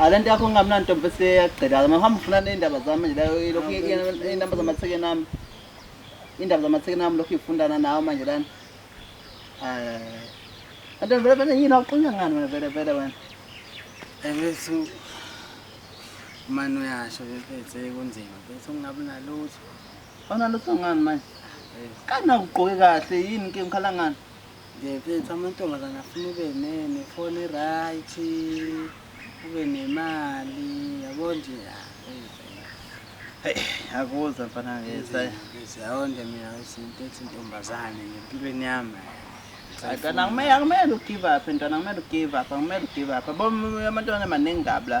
alento yakho ngingamnani ntombi eseyagqilaka mahamba ufuna ney'ndaba zami nje lokhu iy'namba zamathekeni ami iy'ndaba zamathekeni ami lokhu ifundana nawo manje lana anto vele vele yini awuqunya ngani wena vele vele wena ebethu mani uyasho bephethe kunzima bethu ungabi nalutho awunalutho ngani manje kanakugqoke kahle yini ke ngikhala ngani Ndiyayiphetha amantombazane afuna ube nefoni eright ube nemali yabo nje akuza mfana ngezayonde mina izinto ethi ntombazane ngempilweni yami akumele ugive up ntwana akumele ugive up akumele ugive up bo amantombazane maningi kabi la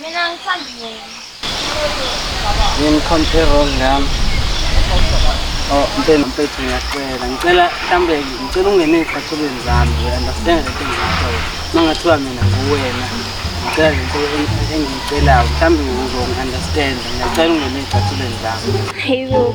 Mina ngithanda yena. Yini compare wrong nami? Oh, mpela mfethu ngiyacela. Ngicela mhlambe ngicela ungene ezicathulweni zami. You understand le thing ngakho. Mangathiwa mina nguwena. Ngicela le nto engiyicelayo. Mhlambe uzongi-understand. Ngiyacela ungene ezicathulweni zami. Hayibo.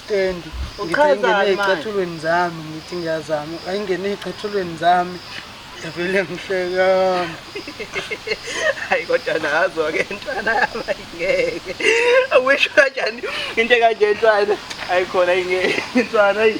Stand. Uchazani manje? Ecathulweni zami ngithi ngiyazama. Ayingene ecathulweni zami. Yavele ngihleka. Hayi kodwa nazo ke ntwana ayingeke. Awisho kanjani into kanje ntwana? Ayikhona ingeke. Ntwana ayi.